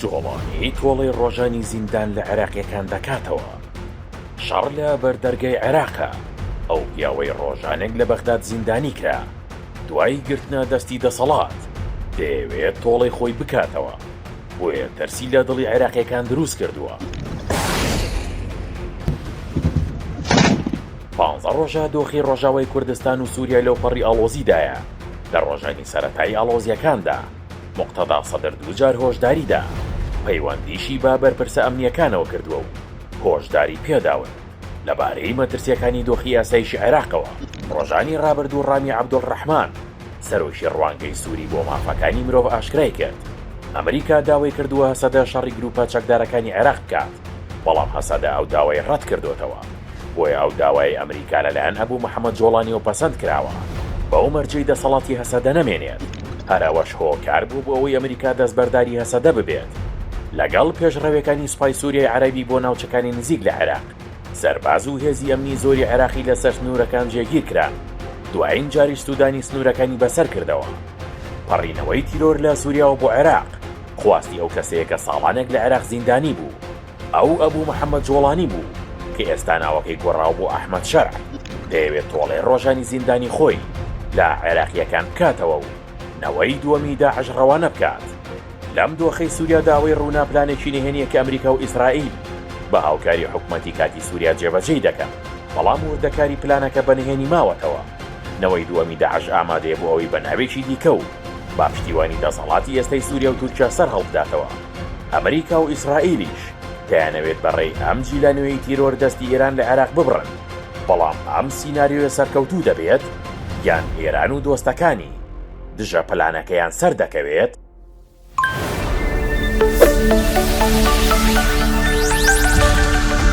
جوڵانیی تۆڵەی ڕۆژانی زیندان لە عێراقییەکان دەکاتەوە. شەڕ لە بەر دەرگای عێراقە. ئەو پیاوەی ڕۆژانێک لە بەغداد زیندانی کرا، دوای گرتنە دەستی دەسەڵات، دەیەوێت تۆڵەی خۆی بکاتەوە، بۆیە ترسی لە دڵی عێراقییەکان دروست کردووە. پانزە ڕۆژە دۆخی ڕۆژاوای کوردستان و سووریا لەوپەڕی ئاڵۆزیدایە، لە ڕۆژانی سەرەتایی ئاڵۆزییەکاندا، موقتەدا سەدر دووجار هۆشداری دا، پەیوەندیشی بە بەرپرسە ئەمنییەکانەوە کردووە و هۆشداری پێداون لەبارەی مەترسییەکانی دۆخی ئاسایشی عێراقەوە. ڕۆژانی ڕابردوو ڕامی عەبدولڕەحمان، سەرۆکی ڕوانگەی سووری بۆ مافەکانی مرۆڤ ئاشکرای کرد، ئەمریکا داوای کردووە سەدە شەڕی گرووپە چەکدارەکانی عێراق بکات. بەڵام هەسەدە ئەو داوای ڕەت کردۆتەوە، بۆیە ئەو داوایەی ئەمریکا لەلایەن ئەبو محەمەد جۆڵانیەوە پەسەند کراوە، بەو مەرجەی دەسەڵاتی هەسەدە نەمێنێت، هەر ئەوەش هۆکار بوو بۆ ئەوەی ئەمریکا دەستبەرداری هەسەدە ببێت، لەگەڵ پێشڕەوێکانی سوپای سوریای عەرەبی بۆ ناوچەکانی نزیک لە عێراق، سەرباز و هێزی ئەمنی زۆری عێراقی لەسەر سنورەکان جێگیر کران، دوایین جاریش سودانی سنورەکانی بەسەر کردەوە. پەڕینەوەی تیرۆر لە سوریاوە بۆ عێراق. خواستی ئەو کەسەیە کە ساڵانێک لە عێراق زیندانی بوو، ئەو ئەبوو محەمەد جۆڵانی بوو کە ئێستا ناوەکەی گۆڕاوە بۆ ئەحمەد شەرع، دەیەوێت تۆڵەی ڕۆژانی زیندانی خۆی لە عێراقییەکان بکاتەوە و نەوەی دووەمی داعش ڕەوانە بکات. لەم دۆخەی سوریادا ئەوەی ڕوونە پلانێکی نهێنییە کە ئەمریکا و ئیسرائیل بە هاوکاری حکومەتی کاتی سوریا جێبەجێی دەکەن، بەڵام وردەکاری پلانەکە بە نهێنی ماوەتەوە، نەوەی دووەمی داعش ئامادەیە بۆ ئەوەی بە ناوێکی دیکە و با پشتیوانی دەسەڵاتی ئێستەی سووریا و تورکیا سەرهەڵبداتەوە. ئەمریکا و ئیسرائیلیش دەیانەوێت بە رێی ئەم جیلە نوێی تیرۆر دەستی ئێران لە عێراق ببڕن، بەڵام ئەم سیناریۆیە سەرکەوتوو دەبێت یان ئێران و دۆستەکانی دژە پلانەکەیان سەردەکەوێت؟